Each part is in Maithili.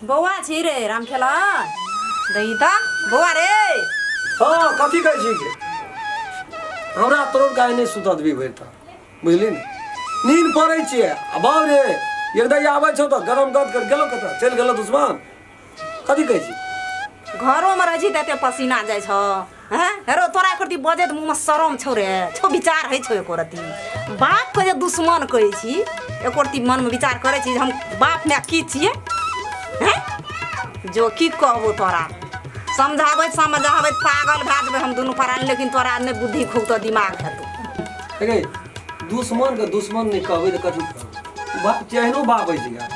बौआ छी रे रामखेला दही ता बौआ रे हाँ कथी कहै छी के हमरा तोर गाय नहीं सुता देबी भरि ता बुझली ने नींद पड़ै छियै आ बाउ रे एकदम आबै छौ तऽ गरम गद कर गेलो कतऽ चलि गेलो दुश्मन कथी कहै छी घरोमे रहै छी तऽ एते पसीना जाइ छ हाँ हेरो तोरा एक रती बजे मुँह में शरम छौ रे छौ विचार है छौ एक रती बाप के जे दुश्मन कहै छी एक रती मन में विचार करे छी हम बाप में की छिए हैं जो की कहबो तोरा समझाबैत समझाबैत पागल भए जेबै हम दुनू परान लेकिन तोरा नहि बुद्धि खूब तो दिमाग हेतौ दुश्मन के दुश्मन नहि कहबै तऽ कथी बा- केहनो बाप अछि गा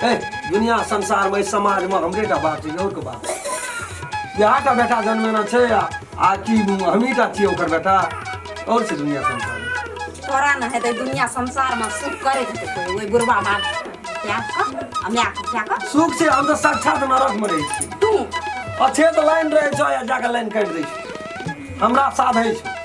ए दुनिया संसारमे एहि समाजमे हमरे टा बाप छै आओर के बाप छै। इएह टा बेटा जन्मेना छै आ आ कि हमही टा छियै ओकर बेटा आओर छै दुनिया संसारमे तोरा ने हेतै दुनिया संसारमे सुख करैत हेतै कोइ ओहि बुढ़बा बाप क्या कह आ माय कह क्या कह सुख छै हम तऽ साक्षात नरकमे रहै छी तू अच्छे तऽ लाइन रहै छौ या जाके लाइन काटि दै छौ हमरा साथ होइ छौ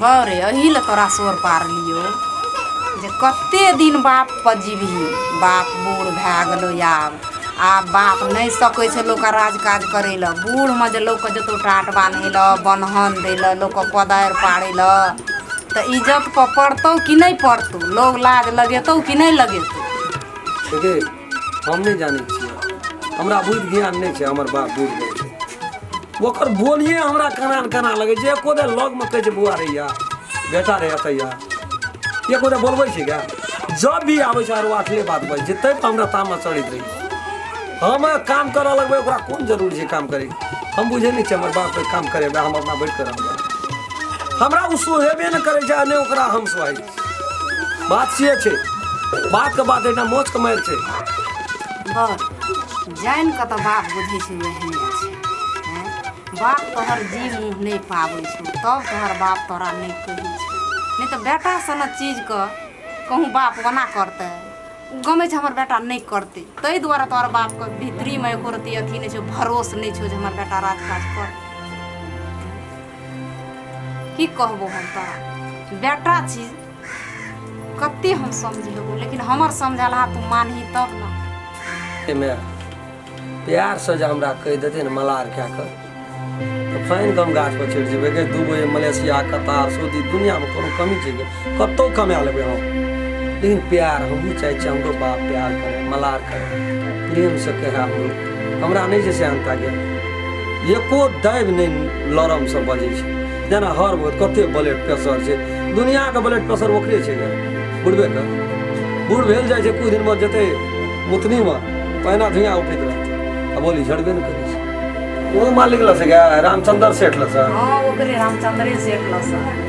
गौरे एही ले तोरा सोर पारलियो जे कते दिन बाप पर जीबही बाप बूढ़ भए गेलो आब आब बाप नहि सकै छै लोकके राज काज करै लए बूढ़मे जे लोकके जतौ टाट बान्है लए बन्हन दै लए लोकके कोदारि पाड़ै लए तऽ इज्जत पर पड़तौ कि नहि पड़तौ लोग लाज लगेतौ कि नहि लगेतौ हम नहि जानै छियै हमरा बुद्धि ज्ञान नहि छै हमर बाप बुढ़ गेल छै ओकर बोलिए हमरा केना ने केना लगै छै एको दे लगमे कहै छै बौआ रहैया बेटा रहैया तैया एको दे बोलबै छै क्या जब भी आबै छै आरो आठले बात बजै छै तै तऽ हमरा तामा चढ़ैत रहै छै हम काम करऽ लगबै ओकरा कोन जरूरी छै काम करै हम बुझै नहि छियै हमर बाप काम करेबै हम अपना बैठ कऽ रहबै हमरा ओ सोहेबे नहि करै छै आ नहि ओकरा हम सोहै छी बात से छै बात के बात एटा मोच के मार छै बर जानि कऽ तऽ बाप बुझै छै एहने छै हैं? बाप तोहर जी मुँह नहि पाबै छौ तब तोहर बाप तोरा नहि कहै छै नहि तऽ बेटा सन चीजके कहूँ बाप ओना करतै ओ गमै छै हमर बेटा नहि करतै ताहि दुआरे तोहर बापके भीतरीमे एको रत्ती अथी नहि छौ भरोस नहि छौ जे हमर बेटा राजकाज करतै की कहबो हम तोरा बेटा छी कते हम समझेबो लेकिन हमर समझला तू मानही तब ना एमे प्यार से जे हमरा कहि देते ने मलार कए कऽ तऽ फाइन कम गाछ पर चढ़ि जेबै के दू बजे मलेशिया कतार सऊदी दुनियामे कोनो कमी छै के कतौ कमा लेबै हम लेकिन प्यार हमहूँ चाहै छी हमरो बाप प्यार करे मलार करे प्रेम से कहे हमरो हमरा नहि छै से अंता गेल एको दाबि नहि लरम से बजै छै जेना हर बहुत कते ब्लड प्रेशर छै दुनियाके ब्लड प्रेशर ओकरे छै ने बुढ़बे के बूढ़ भेल जाइ छै कुछ दिन बाद जेतै मुतनीमे पहिना धुआँ उठैत रहतै आ बोली झड़बे ने करै छै ओ मालिक लस गया रामचंद्र सेठ लस हाँ ओकरे रामचंद्रे सेठ लसन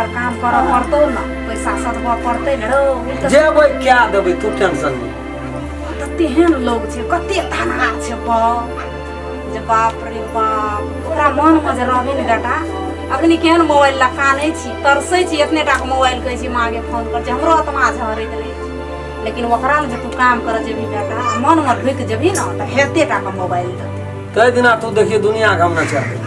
काम करऽ पड़तौ ने पैसा सधबऽ पड़तै ने रौ जेबै क्या देबै तू टेंशन नहि तऽ तेहन लोग छै कते धनहार छै बाप जे बाप रे बाप तोरा मनमे जे रहबे ने बेटा अखनी केहन मोबाइल लए कानै छी तरसै छी एतने टाके मोबाइल कहै छी माँगे फोन कर छै हमरो आत्मा झरैत रहै छै लेकिन ओकरा लए जे तू काम करऽ जेबही बेटा मनमे ढुकि जेबही ने तऽ हेते टाके मोबाइल देतै ताहि दिना तू देखिए दुनियाके हम नहि चाहबै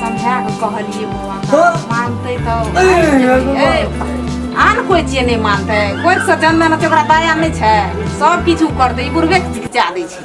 समझा कऽ कहलियै बौआ का, मानतै तऽ आन कोइ चीज नहि मानतै कोइ से चंदन होतै ओकरा दया नहि छै सब किछु करतै ई बुढ़बे के चिकित्सा दै छै